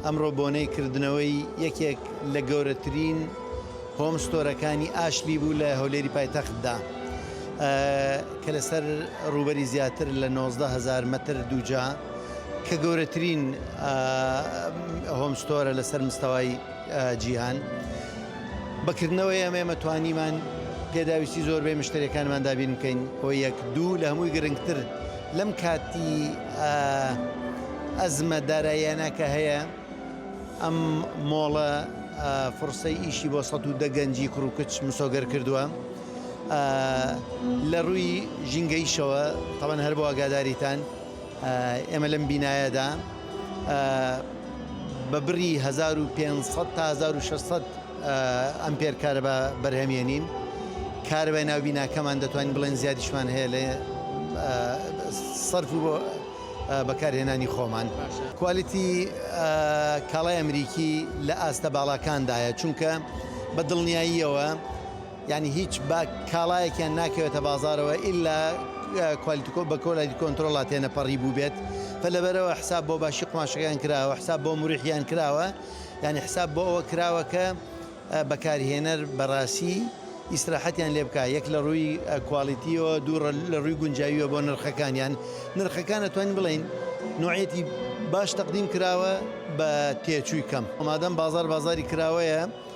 ئەمڕۆ بۆنەی کردنەوەی یەکێک لە گەورەترین هۆم ستۆرەکانی ئاشلی بوو لە هەولێری پایتەختدا کە لەسەر ڕووبەری زیاتر لە 19 هزار مەتر دووجا کە گەورەترین هۆم ستۆرە لەسەر مستەوای جیهان بەکردنەوەی ئەمە ئێمە توانیمان پێداویستی زۆربەی مشتریەکانمان دابین بکەین بۆ یەک دوو لە هەمووی گرنگتر لەم کاتی ئە ئەزمە داراییانە کە هەیە ئەم مۆڵە فرسەی ئیشی بۆ سەد و دە گەنجی کوڕ و کچ مسۆگەر کردووە لە ڕووی ژینگەیشەوە تەمەەن هەر بۆ ئەگاداریتان ئێمە لەم بینایەدا بە بڕی هەزار و پێنج سەد تا هەزار و شەش سەد ئەمپێر کارەبا بەرهەمێنین. کارەبای ناو بیناکەمان دەتوانین بڵێن زیادیشمان هەیە لە سەرف و بەکارهێنانی خۆمان. کوالێتی کاڵای ئەمریکی لە ئاستە باڵاکاندایە، چونکە بە دڵنیاییەوە، یانی هیچ با کاڵایەکیان ناکەوێتە بازارەوە ئیلا کوالیتی بە کۆلایتی کۆنترۆڵا تێنەپەڕی بووبێت فە لەبەرەوە حساب بۆ باشی قوماشەکان کراوە حساب بۆ مریحیان کراوە یانی حساب بۆ ئەوە کراوە کە بەکارهێنەر بەڕاسی ئیسراحەتیان لێ بکا یەک لە ڕووی کوالیتیەوە دوو لە ڕووی گونجاویە بۆ نرخەکانیان نرخەکان ئەتوانین بڵێین نوعەتی باش تەقدیم کراوە بە تێچووی کەم ئەمادەم بازار بازاری کراوەیە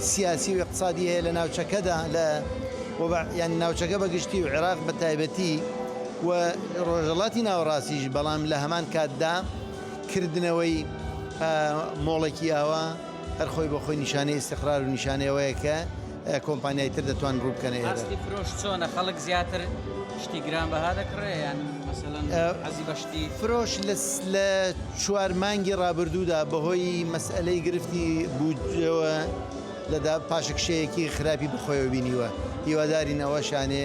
سیاسی و ئیقتسادی هەیە لە ناوچەکەدا لە و بە یانی ناوچەکە بە گشتی و عێراق بە تایبەتی و ڕۆژەڵاتی ناوەڕاستیش بەڵام لە هەمان کاتدا کردنەوەی مۆڵێکی ئاوا هەر خۆی بۆ خۆی نیشانەی ئیستیقرار و نیشانەی ئەوەیە کە کۆمپانیای تر دەتوان ڕوو بکەنە ئێرە. ئاستی فرۆش چۆنە خەڵک زیاتر شتی گرانبەها دەکڕێ یان مەسەلەن حەزی بە فرۆش لە چوار مانگی ڕابردوودا بەهۆی مەسئەلەی گرفتی بودجەوە لە پاشەکشەیەکی خراپی بەخۆیەوە بینیوە، هیوادارین ئەوەشانێ